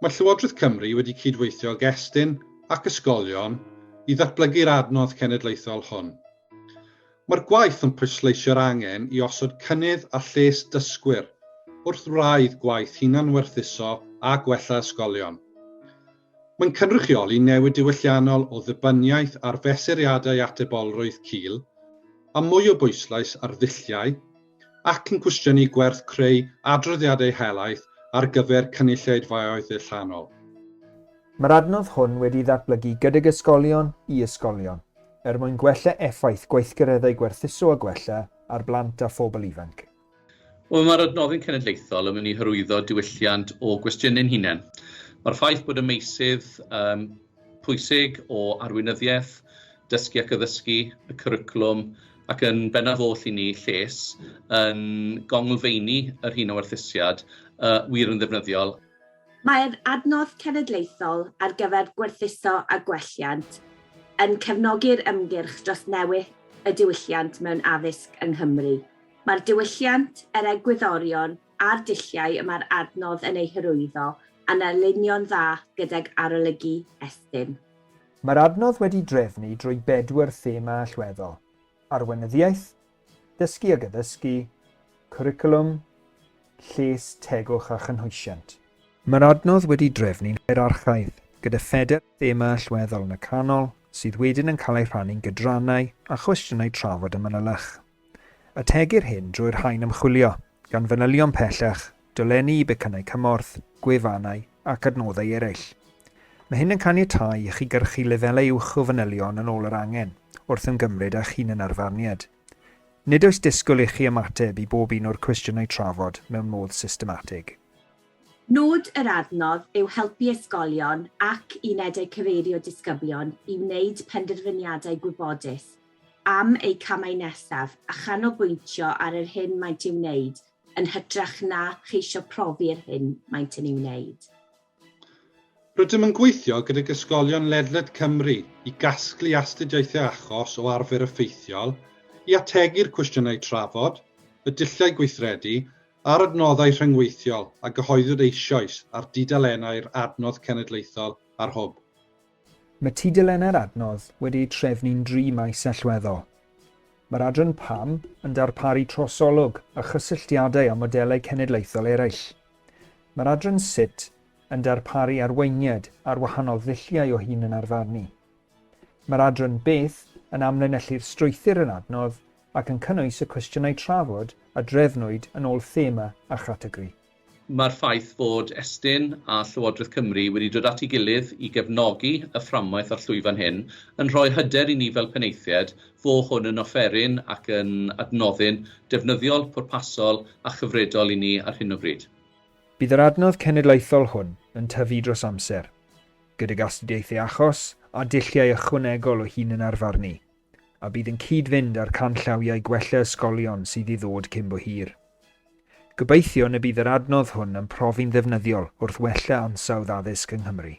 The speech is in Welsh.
Mae Llywodraeth Cymru wedi cydweithio ag Estyn ac ysgolion i ddatblygu'r adnodd cenedlaethol hwn. Mae'r gwaith yn pwysleisio'r angen i osod cynnydd a lles dysgwyr wrth wraidd gwaith hunanwerthuso a gwella ysgolion. Mae'n cynrychioli newid diwylliannol o ddibyniaeth ar fesuriadau atebolrwydd cul a mwy o bwyslais ar ddulliau, ac yn cwestiynu gwerth creu adroddiadau helaeth ar gyfer cynulleidfaoedd allanol. Mae'r adnodd hwn wedi'i ddatblygu gydag ysgolion i ysgolion, er mwyn gwella effaith gweithgareddau gwerthuso a gwella ar blant a phobl ifanc. Wel, mae'r adnoddyn cenedlaethol yn mynd i hyrwyddo diwylliant o gwestiynau'n hunain. Mae'r ffaith bod y meysydd um, pwysig o arweinyddiaeth, dysgu ac addysgu, y cwricwlwm, ac yn bennaf oll i ni lles yn gonglfeini yr hyn o werthusiad uh, wir yn ddefnyddiol. Mae'r adnodd cenedlaethol ar gyfer gwerthuso a gwelliant yn cefnogi'r ymgyrch dros newid y diwylliant mewn addysg yng Nghymru. Mae'r diwylliant, yr egwyddorion a'r dulliau y mae'r adnodd yn eu hyrwyddo yn alinio'n dda gydag arolygu Estyn. Mae'r adnodd wedi drefnu drwy bedwar thema allweddol, arweinyddiaeth, dysgu ag addysgu, cwricwlwm, lles, tegwch a chynhwysiant. Mae'r adnodd wedi drefnu'n hierarchaidd, gyda phedair thema allweddol yn y canol, sydd wedyn yn cael eu rhannu'n gydrannau a chwestiynau trafod a manylach. Ategir hyn drwy'r rhain ymchwilio, gan fanylion pellach, dolenni i becynnau cymorth, gwefannau ac adnoddau eraill. Mae hyn yn caniatáu i chi gyrchu lefelau uwch o fanylion yn ôl yr angen, wrth ymgymryd â'ch hunanarfarniad. Nid oes disgwyl i chi ymateb i bob un o'r cwestiynau trafod mewn modd systematig. Nod yr adnodd yw helpu ysgolion ac unedau cyfeirio disgyblion i wneud penderfyniadau gwybodus am eu camau nesaf a chanolbwyntio ar yr hyn maent i'w wneud yn hytrach na cheisio profi'r hyn maent yn ei wneud. Rydym yn gweithio gydag ysgolion ledled Cymru i gasglu astudiaethau achos o arfer effeithiol, i ategu'r cwestiynau trafod, y dulliau gweithredu a'r adnoddau rhyngweithiol a gyhoeddwyd eisoes ar dudalennau'r Adnodd Cenedlaethol a'r Hwb. Mae tudalennau'r adnodd wedi'u trefnu'n dri maes allweddol. Mae'r adran Pam yn darparu trosolwg a chysylltiadau â modelau cenedlaethol eraill. Mae'r adran Sut yn darparu arweiniad ar wahanol ddulliau o hunanarfarnu. Mae'r adran Beth yn amlinellu'r strwythur yr adnodd ac yn cynnwys y cwestiynau trafod a drefnwyd yn ôl thema a chategori. Mae'r ffaith fod Estyn a Llywodraeth Cymru wedi dod at ei gilydd i gefnogi y fframwaith a'r llwyfan hyn yn rhoi hyder i ni fel penaethiaid fo hwn yn offeryn ac yn adnoddyn defnyddiol, pwrpasol a chyfredol i ni ar hyn o bryd. Bydd yr adnodd cenedlaethol hwn yn tyfu dros amser, gydag astudiaethau achos a dulliau ychwanegol o hunanarfarnu a bydd yn cyd-fynd â'r canllawiau gwella ysgolion sydd i ddod cyn bo hir. Gobeithiwn y bydd yr adnodd hwn yn profi'n ddefnyddiol wrth wella ansawdd addysg yng Nghymru.